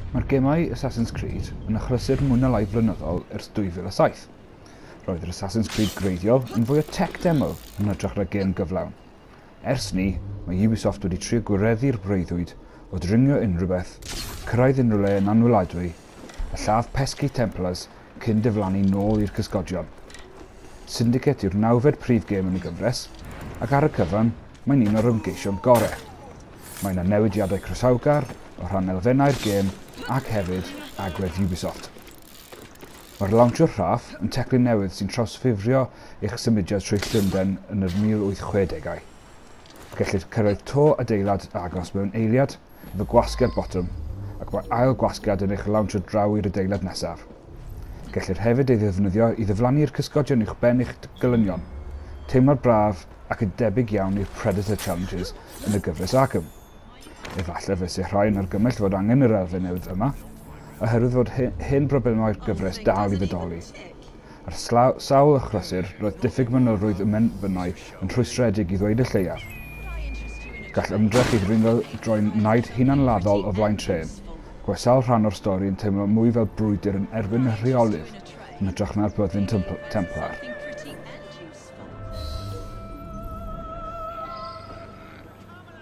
Mae'r gemau Assassin's Creed yn achlysur mwy na lai flynyddol ers 2007. Roedd yr Assassin's Creed greiddiol yn fwy o tech demo yn hytrach na gêm gyflawn. Ers 'ny, mae Ubisoft wedi trio gwireddu'r breuddwyd o dringo unrhyw beth, cyrraedd unrhyw le yn anweladwy, a lladd pesky Templars cyn diflannu nôl i'r cysgodion. Syndicate yw'r nawfed prif gêm yn y gyfres, ac ar y cyfan, mae'n un o'r ymgeision gore'. Mae 'na newidiadau croesawgar o rhan elfennau'r gêm ac hefyd agwedd Ubisoft. Mae'r Lawnsiwr Rhaff yn teclyn newydd sy'n trawsffurfio eich symudiad trwy Llundain yn yr 1860au. Gellir cyrraedd to adeilad agos mewn eiliad efo gwasgiad botwm ac mae ail gwasgiad yn eich lawnsio draw i'r adeilad nesaf. Gellir hefyd ei ddefnyddio i ddiflannu'r cysgodion uwch ben eich gelynion. Teimlad braf ac yn debyg iawn i'r Predator Challenges yn y gyfres Arkham. Efallai fyse rhai'n argymell fod angen yr elfen newydd yma, oherwydd fod hen broblemau'r gyfres dal i fodoli. Ar sawl achlysur, roedd diffyg manylrwydd ym Mhenfynau yn rhwystredig i ddweud y lleiaf. Gall ymdrech i ddringo droi'n naid hunanladdol o flaen trên, ac mae sawl rhan o'r stori yn teimlo mwy fel brwydr yn erbyn y rheolydd yn hytrach na'r Byddin Templar.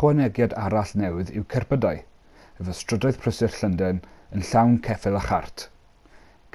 Ychwanegiad arall newydd yw cerbydau, efo strydoedd prysur Llundain yn llawn ceffyl a chart.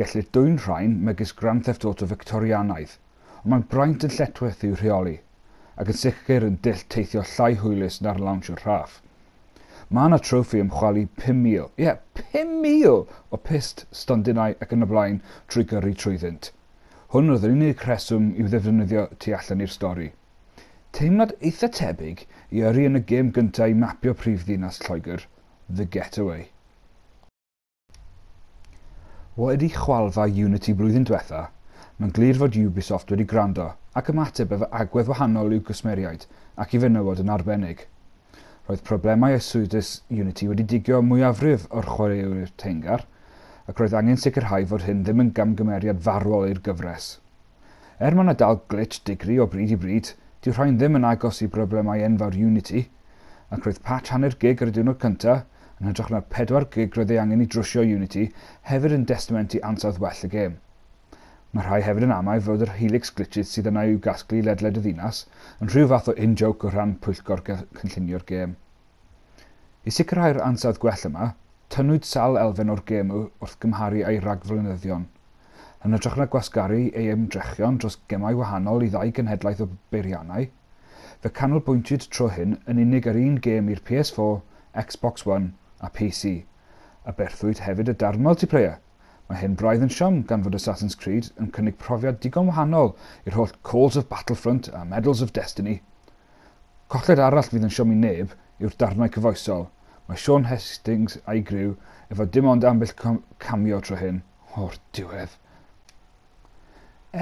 Gellir dwyn rhain megis Grand Theft Auto Fictorianaidd. ond mae'n braint yn lletchwith i'w rheoli, ac yn sicr yn dull teithio llai hwylus na'r lawnsio rhaff. Mae yna trofi am chwalu 5,000, ie, 5,000 o pyst, stondinau ac yn y blaen trwy gyrru trwyddynt. Hwn oedd yr unig rheswm i'w ddefnyddio tu allan i'r stori. Teimlad eitha tebyg i yrru yn y gêm gyntaf i mapio prif ddinas Lloegr, The Getaway. Wedi chwalfa Unity blwyddyn dwetha, mae'n glir fod Ubisoft wedi gwrando ac ymateb efo agwedd wahanol i'w gwsmeriaid ac i fenywod yn arbennig. Roedd problemau arswydus Unity wedi digio mwyafrif o'r chwaraewyr teyrngar, ac roedd angen sicrhau fod hyn ddim yn gamgymeriad farwol i'r gyfres. Er mae 'na dal glitch digri o bryd i bryd, dyw rhain ddim yn agos i broblemau enfawr Unity, ac roedd patch hanner gig ar y diwrnod cynta, yn hytrach na'r pedwar gig roedd ei angen i drwsio Unity, hefyd yn destament i ansawdd well y gêm. Mae rhai hefyd yn amau fod yr Helix glitches sydd yna i'w gasglu ledled y ddinas yn rhyw fath o in-joke o ran pwyllgor cynllunio'r gêm. I sicrhau'r ansawdd gwell yma, tynnwyd sawl elfen o'r gêm wrth gymharu â'i ragflynyddion. Yn hytrach na gwasgaru ei ymdrechion dros gemau wahanol i ddau genhedlaeth o beiriannau, fe canolbwyntiwyd tro hyn yn unig ar un gêm i'r PS4, Xbox One a PC. Aberthwyd hefyd y darn multiplayer. Mae hyn braidd yn siom gan fod Assassin's Creed yn cynnig profiad digon wahanol i'r holl Calls of Battlefront a Medals of Destiny. Colled arall fydd yn siomi neb yw'r darnau cyfoesol. Mae Shaun Hastings a'i griw efo dim ond ambell cameo tro hyn, o'r diwedd.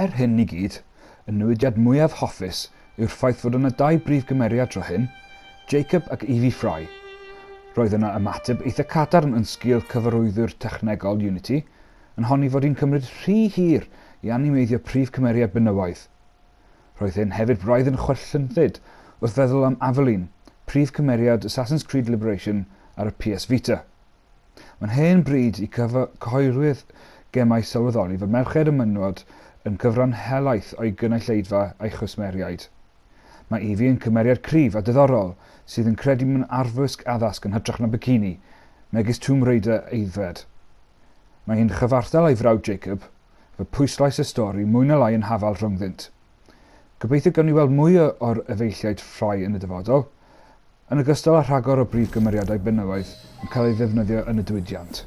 Er hyn i gyd, y newidiad mwyaf hoffus yw'r ffaith fod yna dau brif gymeriad tro hyn, Jacob ac Evie Fry. Roedd yna ymateb eitha cadarn yn sgil cyfarwyddwr technegol Unity yn honni fod hi'n cymryd rhy hir i animeiddio prif cymeriad benywaidd. Roedd hyn hefyd braidd yn chwerth llynllyd wrth feddwl am Aveline, prif cymeriad Assassin's Creed Liberation ar y PS Vita. Mae'n hen bryd i cyhoeddiwyr gemau sylweddoli fod merched a mynwod yn cyfran helaeth o'i gynulleidfa a'i chwsmeriaid. Mae Evie yn cymeriad cryf a diddorol sydd yn credu mewn arfwisg addasg yn hytrach na bikini, megis Tomb Raider aeddfed. Mae hi'n chyfartal â'i frawd Jacob, fy pwyslais y stori mwy na lai yn hafal rhyngddynt. Gobeithio gawn ni weld mwy o'r efeilliaid ffrae yn y dyfodol, yn ogystal â rhagor o brif gymeriadau benywaidd yn cael ei ddefnyddio yn y diwydiant.